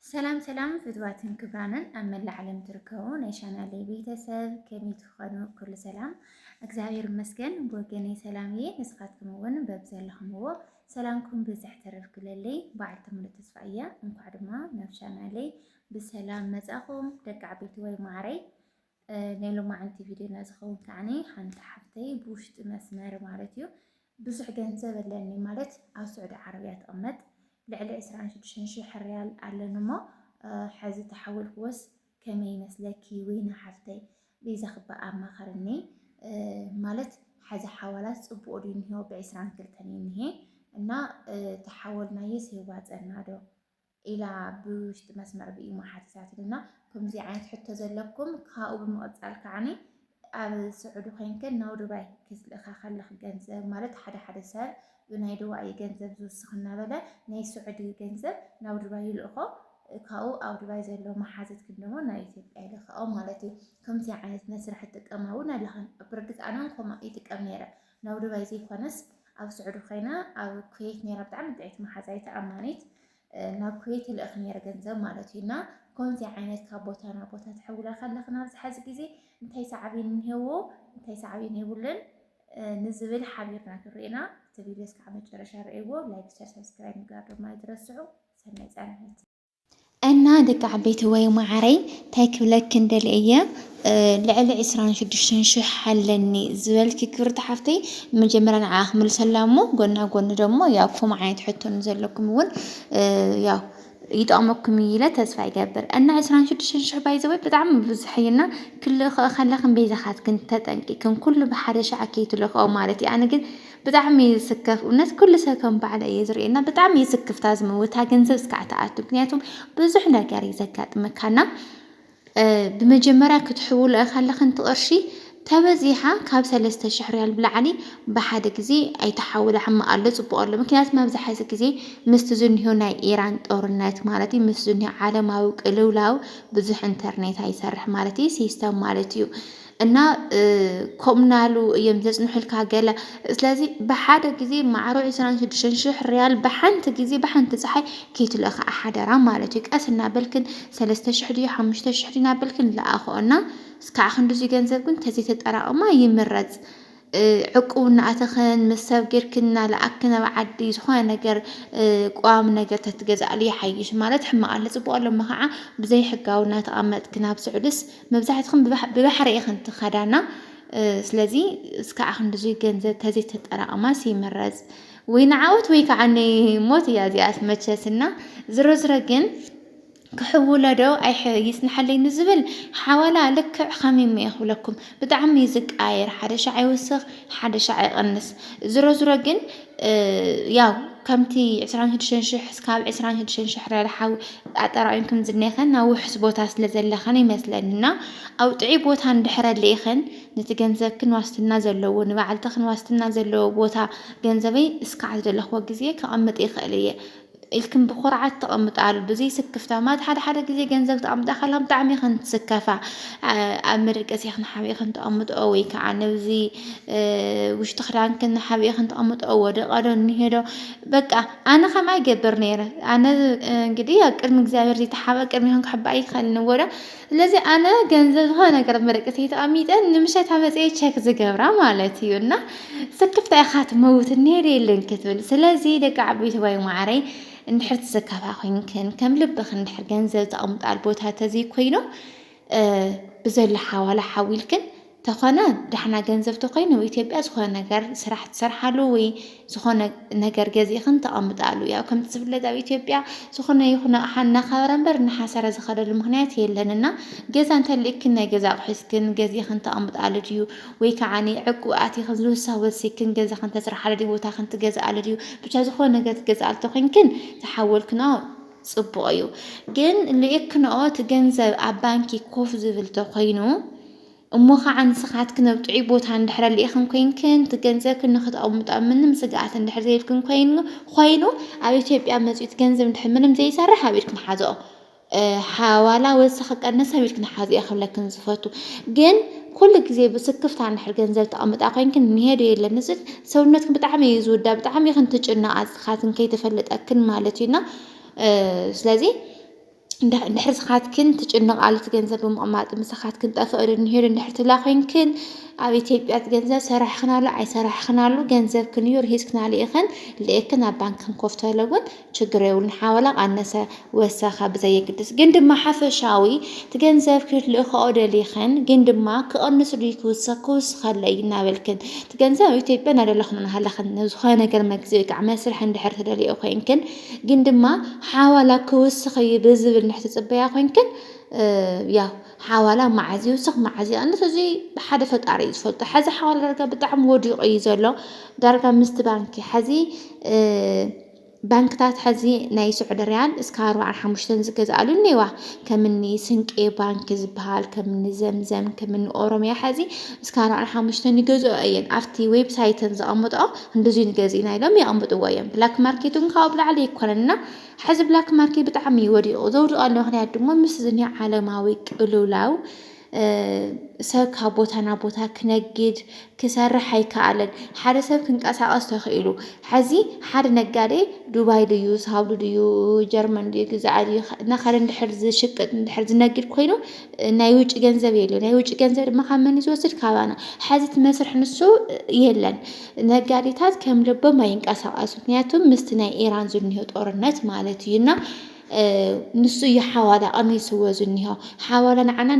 ሰላም ሰላም ፍትዋትን ክብራንን ኣብ መላእ ዓለም ትርከቡ ናይ ቻናለይ ቤተሰብ ከመይ ትኾኑ? ኩሉ ሰላም እግዚኣብሔር ይመስገን። ብወገነይ ሰላም እየ። ንስኻትኩም እውን በብዘለኹምዎ ሰላምኩም ብዝሕ ተረፍ ክለለይ በዓልቲ ሙሉእ ተስፋ እየ። እንኳዕ ድማ ናብ ቻናለይ ብሰላም መጻኹም ደቂ ዓበይቲ ወይ ማዕረይ ናይ ሎማዓንቲ ቪድዮና ዝኸውን ከዓኒ ሓንቲ ሓፍተይ ብውሽጢ መስመር ማለት እዩ ብዙሕ ገንዘብ ኣለኒ ማለት ኣብ ስዑዲ ዓረብያ ትቕመጥ ልዕሊ 26 ሽሕ ሪያል ኣለኒ እሞ ሕዚ ተሓወልክዎስ ከመይ ይመስለኪ ወይና ሓፍተይ ቤዛ ክባ ኣማኸርኒ ማለት ሓዚ ሓዋላ ፅቡቅ ድዩ እኒሄ ብዕስራን ክልተን እዩ እኒሄ እና ተሓወልናየስ የዋፀና ዶ ኢላ ብውሽጢ መስመር ብኢሞ ሓቲታትልና። ከምዚ ዓይነት ሕቶ ዘለኩም ካብኡ ብምቕጻል ከዓኒ ኣብ ስዑዲ ኮይንክን ናብ ዱባይ ክትልእካ ከለኽ ገንዘብ ማለት ሓደ ሓደ ሰብ ብናይ ዱባይ እዩ ገንዘብ ዝውስኽ እናበለ ናይ ስዑዲ እዩ ገንዘብ ናብ ዱባይ ይልእኾ ካብኡ ኣብ ዱባይ ዘሎ መሓዝት ግን ደሞ ናብ ኢትዮጵያ ይልክኦ ማለት እዩ። ከምዚ ዓይነት መስርሕ ትጥቀማ እውን ኣለኽን ብርግጽ ኣነ ከምኡ ይጥቀም ነይረ። ናብ ዱባይ ዘይኮነስ ኣብ ስዑዲ ኮይና ኣብ ኩዌት ነይራ ብጣዕሚ ጥዕቲ መሓዛይ ተኣማኒት ናብ ኩዌት ይልእኽ ነይረ ገንዘብ ማለት እዩ እና ከምዚ ዓይነት ካብ ቦታ ናብ ቦታ ትሕውላ ከለኽን ኣብዚ ሓዚ ግዜ እንታይ ሳዕቤን እንሄዎ እንታይ ሳዕቤን የብሉን ንዝብል ሓቢርና ክንርኤና እቲ ቪድዮስ ከዓ መጨረሻ ርእይዎ ላይክ ሸር ሰብስክራይብ ምግባር ድማ ኣይትረስዑ ሰናይ ፃንሒት እና ደቂ ዓበይትወይ ማዓረይ ታይ ክብለክን ደልየ እየ ልዕሊ ዕስራን ሽዱሽተን ሽሕ ኣለኒ ዝበልኪ ክብርቲ ሓፍተይ መጀመርያ ንዓኣ ክምልሰላ እሞ ጎና ጎኒ ደሞ ያው ከምኡ ዓይነት ሕቶ ንዘለኩም እውን ያው ይጠቕመኩም እዩ ኢለ ተስፋ ይገብር እና ዕስራን ሽዱሽተን ሽሕ ባይዘወይ ብጣዕሚ ብዙሕ እዩ እና ክልእኸኦ ከለኽን ቤዛኻትክን ተጠንቂክን ኩሉ ብሓደ ሻዕ ከይትልእኸኦ ማለት እዩ ኣነ ግን ብጣዕሚ ይስከፍ እውነት ኩሉ ሰብ ከም ባዕለ እየ ዝርእየና ብጣዕሚ ይስክፍ እታ ዝመውት እታ ገንዘብ እስካዕ ትኣቱ ምክንያቱም ብዙሕ ነገር እዩ ዘጋጥመካና ብመጀመርያ ክትሕውሉ እኻ ኣለኽን ትቕርሺ ተበዚሓ ካብ ሰለስተ ሽሕ ሪያል ብላዕሊ ብሓደ ግዜ ኣይተሓውላ ሕማቕ ኣሎ ጽቡቕ ኣሎ ምክንያቱ መብዛሕዚ ግዜ ምስቲ ዝኒሆ ናይ ኢራን ጦርነት ማለት እዩ ምስ ዝኒሆ ዓለማዊ ቅልውላው ብዙሕ ኢንተርኔት ኣይሰርሕ ማለት እዩ ሲስተም ማለት እዩ እና ኮምናሉ እዮም ዘጽንሑልካ ገለ ስለዚ ብሓደ ግዜ ማዕሮ 26 ሽሕ ሪያል ብሓንቲ ግዜ ብሓንቲ ፀሓይ ከይትልእኽዓ ሓደራ ማለት እዩ። ቀስ እናበልክን ሰለስተ ሽሕ ድዩ ሓሙሽተ ሽሕ ድዩ እናበልክን ለኣኽኦ እና እስካዕ ክንድዙይ ገንዘብ ግን ተዘይተጠራቕማ ይምረፅ። ዕቁብ እናኣተኽን ምስ ሰብ ጌርክን እናለኣክን ናብ ዓዲ ዝኾነ ነገር ቋሚ ነገር ተትገዝኣሉ ይሓይሽ ማለት ሕማቕ ኣለ ፅቡቕ ኣሎ እሞ ከዓ ብዘይሕጋዊ እናተቐመጥክ ናብ ስዑድስ መብዛሕትኽን ብባሕሪ ኢኽን ትኸዳና ስለዚ እስካዕ ክንድዙይ ገንዘብ ተዘይተጠራቕማስ ይምረጽ ወይ ንዓወት ወይ ከዓ ሞት እያ እዚኣስ መቸስና ዝሮ ዝሮ ግን ክሕውሎ ዶ ኣይይጽንሓለይ ንዝብል ሓዋላ ልክዕ ከሚሞ ኢየ ክብለኩም ብጣዕሚ ኢዩ ዝቀያየር ሓደ ሻዕ ይውስኽ ሓደ ሻዕ ይቕንስ ዝሮ ዝሮ ግን ያው ከምቲ ዕስራን ሽዱሽተን ሽሕ እስካብ ዕስራን ሽዱሽተን ሽሕ ረድሓ ኣጠራቒምክን ዝኔኸን ኣብ ውሑስ ቦታ ስለ ዘለኽን ይመስለኒ እና ኣብ ጥዑይ ቦታ እንድሕር ኣሊእኽን ነቲ ገንዘብክን ዋስትና ዘለዎ ንባዕልትኽን ዋስትና ዘለዎ ቦታ ገንዘበይ እስካዕ ዝደለኽዎ ግዜ ከቐምጥ ይኽእል እየ ኢልክን ብኹርዓት ተቐምጣሉ ብዘይ ስክፍታ ማለት ሓደ ሓደ ግዜ ገንዘብ ተቐምጣ ከላ ብጣዕሚ ኢኽን ትስከፋ ኣብ መደቀሲ ኢኽን ሓቢእኽን ተቐምጥኦ ወይ ከዓ ነብዚ ውሽጢ ክዳንክን ሓቢእኽን ተቐምጥኦ ወደቐዶ እኒሄዶ በቃ ኣነ ከምኣ ይገብር ነይረ ኣነ እንግዲህ ኣብ ቅድሚ እግዚኣብሔር ዘይተሓበ ቅድሚ ኢኽን ክሕባእ ኣይክኣልን እወ ዶ ስለዚ ኣነ ገንዘብ ዝኾነ ነገር ኣብ መደቀሲተይ ተቐሚጠ ንምሸታ መፅየ ቸክ ዝገብራ ማለት እዩ እና ስክፍታ ኢኻ ትመውት ነይረ የለን ክትብል ስለዚ ደቂ ዓበይቲ ባይ ማዕረይ እንድሕር ትስከፋ ኮይንክን ከም ልብኽን እንድሕር ገንዘብ ተቐምጣል ቦታ ተዘይኮይኑ ብዘሎ ሓዋላ ሓዊልክን ተኾነ ዳሕና ገንዘብ ተኮይኑ ኣብ ኢትዮጵያ ዝኾነ ነገር ስራሕ ትሰርሓሉ ወይ ዝኾነ ነገር ገዚእኽን ተቐምጣሉ። ያው ከምቲ ዝፍለጥ ኣብ ኢትዮጵያ ዝኾነ ይኹን ኣቕሓ እናኸበረ እምበር እናሓሰረ ዝኸደሉ ምኽንያት የለን እና ገዛ እንተሊእክን ናይ ገዛ ኣቑሑ ሒዝክን ገዚእኽን ተቐምጣሉ ድዩ ወይ ከዓ ዕቁብ ኣቲኽን ዝውሳ ወሲክን ገዛኽን ተስርሓሉ ድዩ ቦታኽን ትገዝኣሉ ድዩ ብቻ ዝኾነ ነገር ትገዝኣሉ ተኮይንክን ተሓወልክንኦ ፅቡቕ እዩ ግን ሊእክንኦ እቲ ገንዘብ ኣብ ባንኪ ኮፍ ዝብል ተኮይኑ እሞ ኸዓ ንስኻትክን ኣብ ጥዑይ ቦታ እንድሕር ኣሊእኽን ኮይንክን እቲ ገንዘብክን ንኽተቐምጡ ኣብ ምንም ስግኣት እንድሕር ዘይብልክን ኮይኑ ኾይኑ ኣብ ኢትዮጵያ መፂኡ እቲ ገንዘብ እንድሕር ምንም ዘይሰርሕ ኣብ ኢድክን ሓዝኦ ሓዋላ ወሰኽ ቀነስ ኣብ ኢድክን ሓዝኦ ክብለክን ዝፈቱ ግን ኩሉ ግዜ ብስክፍታ እንድሕር ገንዘብ ተቐምጣ ኮይንክን እንሄዶ የለን እዚ ሰውነትክን ብጣዕሚ እዩ ዝውዳ ብጣዕሚ ኢኽን ትጭነቓ ንስኻትክን ከይተፈለጠክን ማለት እዩና ስለዚ እንድሕር ስኻትክን ትጭነቓ ኣቲ ገንዘብ ብምቕማጥ ምሳኻት ክንጠፍእ ዶ ንሄዱ እንድሕር ትብላ ኮይንክን ኣብ ኢትዮጵያ እቲ ገንዘብ ሰራሕኽናሉ ኣይሰራሕኽናሉ ገንዘብ ክንዩ ርሂፅክናሉ ኢኽን ልእክን ኣብ ባንክን ኮፍተለ እውን ችግር የብሉን ሓወላ ቃነሰ ወሰኸ ብዘየግድስ ግን ድማ ሓፈሻዊ እቲ ገንዘብ ክትልእክኦ ደሊኽን ግን ድማ ክቕንስ ድዩ ክውሰኽ ክውስኸለ እዩ እናበልክን እቲ ገንዘብ ኣብ ኢትዮጵያ እናደለኽን እናሃለኽን ዝኾነ ነገር መግዚ ወይ ከዓ መስርሕ እንድሕር ትደልዮ ኮይንክን ግን ድማ ሓዋላ ክውስኽ እዩ ብዝብል ንሕትጽበያ ኮይንክን ያው ሓዋላ መዓዝ ይውስኽ መዓዝ ይቐንስ እዚ ብሓደ ፈጣሪ እዩ ዝፈልጦ። ሓዚ ሓዋላ ዳርጋ ብጣዕሚ ወዲቑ እዩ ዘሎ ዳርጋ ምስቲ ባንኪ ሓዚ ባንክታት ሐዚ ናይ ስዑዲ ሪያል እስከ ኣርባዓን ሓሙሽተን ዝገዝኣሉ እኒዋ ከምኒ ስንቄ ባንኪ ዝበሃል ከምኒ ዘምዘም ከምኒ ኦሮምያ ሐዚ እስከ ኣርባዓን ሓሙሽተን ይገዝኦ እየን ኣብቲ ዌብሳይተን ዘቐምጠኦ ክንድዙይ ንገዚእና ኢሎም የቐምብጥዎ እዮም። ብላክ ማርኬት እውን ካብኡ ብላዕሊ ኣይኮነን እና ሕዚ ብላክ ማርኬት ብጣዕሚ እዩ ወዲቑ። ዘውድቐሉ ምክንያት ድማ ምስ እዚ ናይ ዓለማዊ ቅልውላው ሰብ ካብ ቦታ ናብ ቦታ ክነግድ ክሰርሕ ኣይከኣለን። ሓደ ሰብ ክንቀሳቐስ ተኽኢሉ ሕዚ ሓደ ነጋዴ ዱባይ ድዩ ሳውዲ ድዩ ጀርመን ድዩ ግዛኢ ድዩ እናኸደ እንድሕር ዝሽቅጥ እንድሕር ዝነግድ ኮይኑ ናይ ውጭ ገንዘብ የለ ናይ ውጭ ገንዘብ ድማ ካብ መን ዝወስድ ካባና ሐዚ እቲ መስርሕ ንሱ የለን ነጋዴታት ከም ልቦም ኣይንቀሳቀሱ ምክንያቱም ምስቲ ናይ ኢራን ዝኒሆ ጦርነት ማለት እዩ እና ንሱ እዩ ሓዋላ ቀኒስዎ ዝኒሆ ሓዋላ ንዓና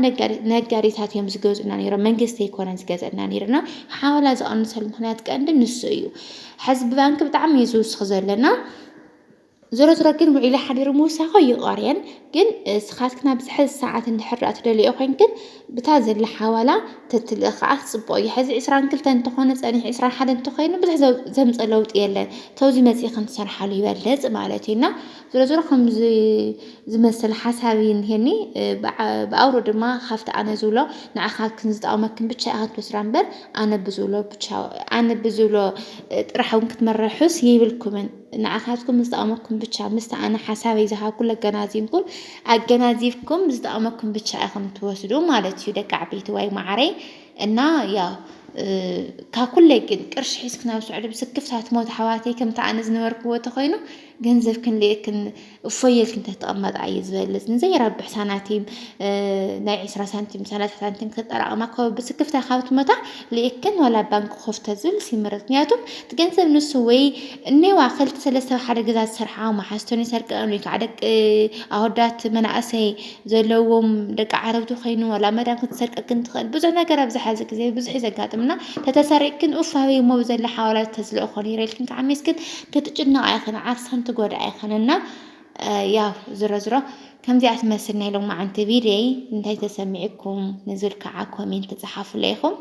ነጋዴታት እዮም ዝገዙና ነይሮም መንግስቲ ኣይኮነን ዝገዘና ነይርና ሓዋላ ዝቐንሰሉ ምክንያት ቀንዲ ንሱ እዩ ሕዚ ብባንኪ ብጣዕሚ እዩ ዝውስኽ ዘለና ዞሮ ዞሮ ግን ውዒለ ሓዲረ ምውሳኾ ይቐርየን ግን ስኻትክን ኣብዚ ሕዚ ሰዓት እንድሕር ደኣ ትደልዮ ኮይንክን ብታ ዘላ ሓዋላ ተትልእ ከዓ ጽቡቕ እዩ። ሕዚ ዕስራን ክልተን እንተኾነ ጸኒሑ ዕስራን ሓደን እንተኾይኑ ብዙሕ ዘምጽ ለውጢ የለን ተውዚ መጺእክን ትሰርሓሉ ይበልጽ ማለት እዩ እና ዞሮ ዞሮ ከምዚ ዝመስል ሓሳብ እዩ እንሄኒ ብኣውሮ ድማ ካብቲ ኣነ ዝብሎ ንዓኻትክን ዝጠቕመክን ብቻ ኢኻ ትወስዳ እምበር ኣነ ብዝብሎ ብቻ ኣነ ብዝብሎ ጥራሕ እውን ክትመርሑስ ይብልኩምን። ንዓኻትኩም ምስ ጠቐመኩም ብቻ ምስቲ ኣነ ሓሳበይ ዝሃብኩ ለገናዚብኩም ኣገናዚብኩም ዝጠቐመኩም ብቻ ኢኹም ትወስዱ ማለት እዩ ደቂ ዓበይቲ ዋይ ማዓረይ እና ያው ካብ ኩለይ ግን ቅርሺ ሒዝክን ኣብ ስዑዲ ብስክፍታ ትሞት ኣሕዋተይ ከምቲ ኣነ ዝነበርክዎ ተኮይኑ ገንዘብክን ልእክን እፎይ ኢልኪ እንተትቕመጣ እዩ ዝበልፅ ንዘይረብሕ ሳናቲም ናይ ዕስራ ሳንቲም ሰላሳ ሳንቲም ክጠራቐማ ካብ ብስክፍታ ካብ ትመታ ልእክን ዋላ ባንክ ኮፍ ተዝብል ይምረፅ ምክንያቱ እቲ ገንዘብ ንሱ ወይ እኔዋ ክልተ ሰለስተ ሓደ ገዛ ዝሰርሓ መሓዝቶን ይሰርቀን ወይ ከዓ ደቂ ኣወዳት መናእሰይ ዘለዎም ደቂ ዓረብቲ ኮይኑ ዋላ መዳም ክትሰርቀክን ትኽእል ብዙሕ ነገር ኣብዚ ሓዚ ግዜ ብዙሕ እዩ ዘጋጥምና ተተሰሪቅክን ኡፍ ሃበይ እሞ ብዘላ ሓዋላ ተዝልእኾ ነይረ ኢልክን ከዓ ሜስክን ክትጭነቃ ኣይኽን ዓርሰን ትጎድኣ ኣይኽን እና ያው ዝሮ ዝሮ ከምዚኣ ትመስል ናይ ሎማዓንቲ ቪድዮይ እንታይ ተሰሚዕኩም ንዝብል ከዓ ኮሜንት ፀሓፉለይ ኢኹም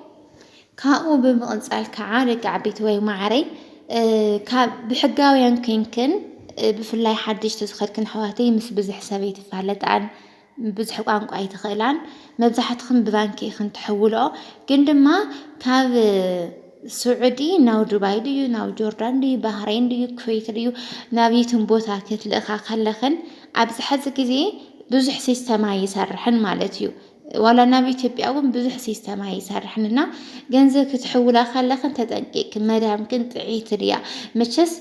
ካብኡ ብምቕፃል ከዓ ደቂ ዓበይቲ ወይ ማዕረይ ካብ ብሕጋውያን ኮይንክን ብፍላይ ሓድሽቲ ዝኸድክን ኣሕዋተይ ምስ ብዝሕ ሰብ ኣይትፋለጣን ብዙሕ ቋንቋ ኣይትኽእላን መብዛሕትኽን ብባንኪ ኢኽን ትሕውልኦ ግን ድማ ካብ ስዑዲ ናብ ዱባይ ድዩ ናብ ጆርዳን ድዩ ባህሬን ድዩ ኩዌት ድዩ ናብ የትም ቦታ ክትልእኻ ከለኽን ኣብዚ ሕዚ ግዜ ብዙሕ ሲስተም ኣይሰርሕን ማለት እዩ ዋላ ናብ ኢትዮጵያ እውን ብዙሕ ሲስተም ኣይሰርሕን እና ገንዘብ ክትሕውላ ከለኽን ተጠንቂቅክን መዳምክን ጥዒቲ ድያ መቸስ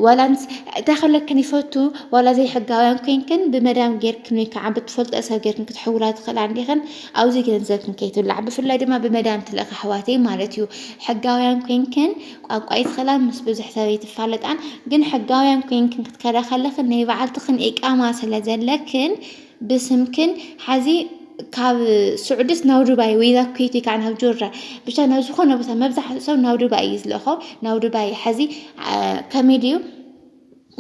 ዋላ ምስ እንታይ ከለክን ይፈቱ ዋላ ዘይሕጋውያን ኮንክን ብመዳም ጌርክን ወይ ከዓ ብትፈልጦ ሰብ ጌርክን ክትሕውላ ትኽእላ እንዲኽን ኣብዚ ገንዘብክን ከይትብላዕ ብፍላይ ድማ ብመዳም ትልእኽ ኣሕዋተይ ማለት እዩ ሕጋውያን ኮንክን ቋንቋ ይትኽእላ ምስ ብዙሕ ሰብ ይትፋለጣን ግን ሕጋውያን ኮንክን ክትከዳ ከለኽን ናይ በዓልትኽን ኢቃማ ስለ ዘለክን ብስምክን ሐዚ ካብ ስዑድስ ናብ ዱባይ ወይ ናብ ኩዌት ወይ ከዓ ናብ ጆርዳን ብቻ ናብ ዝኾነ ቦታ መብዛሕትኡ ሰብ ናብ ዱባይ እዩ ዝልእኾ ናብ ዱባይ ሐዚ ከመይ ድዩ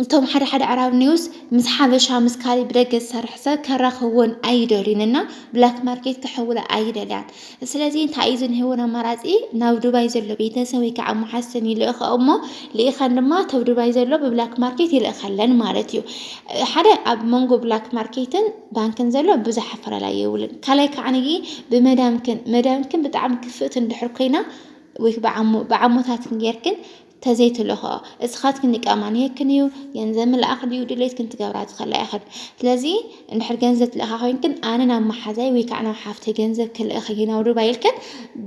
እቶም ሓደ ሓደ ኣዕራብ ኒውስ ምስ ሓበሻ ምስ ካሊእ ብደገ ዝሰርሕ ሰብ ከራኽብወን ኣይደልዩን እና ብላክ ማርኬት ክሕውላ ኣይደልያን። ስለዚ እንታይ እዩ ዝንህውን ኣማራጺ ናብ ዱባይ ዘሎ ቤተሰብ ወይ ከዓ መሓዝተን ይልእኸኦ እሞ ልኢኸን ድማ ተብ ዱባይ ዘሎ ብብላክ ማርኬት ይልእኸለን ማለት እዩ ሓደ ኣብ መንጎ ብላክ ማርኬትን ባንክን ዘሎ ብዙሕ ኣፈላላይ የብሉን ካልኣይ ከዓ ብመዳምክን መዳምክን ብጣዕሚ ክፍእቲ እንድሕር ኮይና ወይ ብዓሞታትን ጌርክን ተዘይትልእኽኦ እስኻትክን ኢቃማ ንየክን እዩ ገንዘብ ምልኣኽ ድዩ ድሌትክን ትገብራ ዝኸላ ኢኽን ስለዚ እንድሕር ገንዘብ ትልእኻ ኮይንክን ኣነ ናብ መሓዛይ ወይ ከዓ ናብ ሓፍተይ ገንዘብ ክልእኽ እዩ ናብ ዱባይ ኢልክን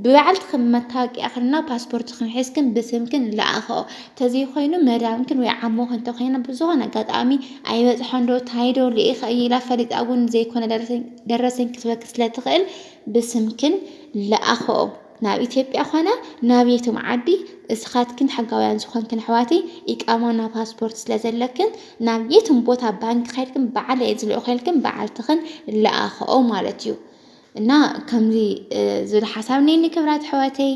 ብባዕልትክን መታወቂያኽንና ፓስፖርትክን ሒዝክን ብስምክን ልኣኽኦ ተዘይኮይኑ መዳምክን ወይ ዓሞኽን እንተኮይና ብዝኾነ ኣጋጣሚ ኣይበፅሖን ዶ ታይ ዶ ልኢኸ እዩ ኢላ ፈሊጣ እውን ዘይኮነ ደረሰኝ ክትበክ ስለትኽእል ብስምክን ልኣኽኦ ናብ ኢትዮጵያ ኮነ ናብየትም ዓዲ እስኻትክን ሕጋውያን ዝኾንክን ኣሕዋትይ ኢቃማ እና ፓስፖርት ስለዘለክን ናብ የትም ቦታ ባንኪ ከድክን ባዓለይ ዝልእኸልክን ባዓልትኽን ልኣኸኦ ማለት እዩ እና ከምዚ ዝብል ሓሳብ ነይኒ ክብራት ኣሕዋተይ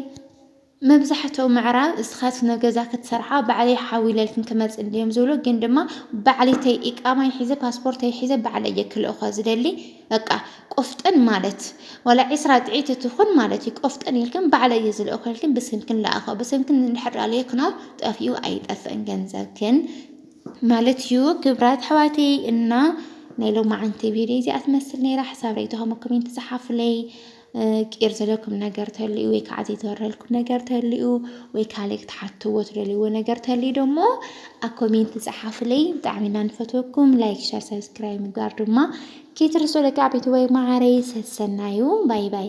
መብዛሕትኡ ምዕራብ እስኻት ነገዛ ክትሰርሓ ባዕለይ ሓዊለልክን ክመፅ እንድዮም ዝብሉ ግን ድማ ባዕሊተይ ኢቃማይ ሒዘ ፓስፖርተይ ሒዘ ባዕለይ ክልእኾ ዝደሊ በቃ ቆፍጠን ማለት ዋላ ዕስራ ጥዒቲ ትኹን ማለት እዩ። ቆፍጠን ኢልክን ባዕለይ እየ ዝልእኾ ኢልክን ብስምክን ለኣኸ ብስምክን እንድሕር ኣለክኖ ጠፊኡ ኣይጠፍእን ገንዘብክን ማለት እዩ። ክብራት ኣሕዋተይ እና ናይ ሎማዓንቲ ቪድዮ እዚኣ ትመስል ነይራ። ሓሳብ ርእይቶኹም ኮሜንት ፀሓፉለይ። ቂር ዘለኩም ነገር ተልዩ ወይ ከዓ ዘይተወረልኩም ነገር ተልዩ ወይ ካልእ ክትሓትዎ ትደልይዎ ነገር ተልዩ ደሞ ኣብ ኮሜንት ፀሓፍለይ ብጣዕሚ ኢና ንፈትወኩም ላይክ ሸር ሰብስክራይብ ምግባር ድማ ከይትርስዑ ደቂ ዓበይቲ ወይ ማዓረይ ሰሰናዩ ባይ ባይ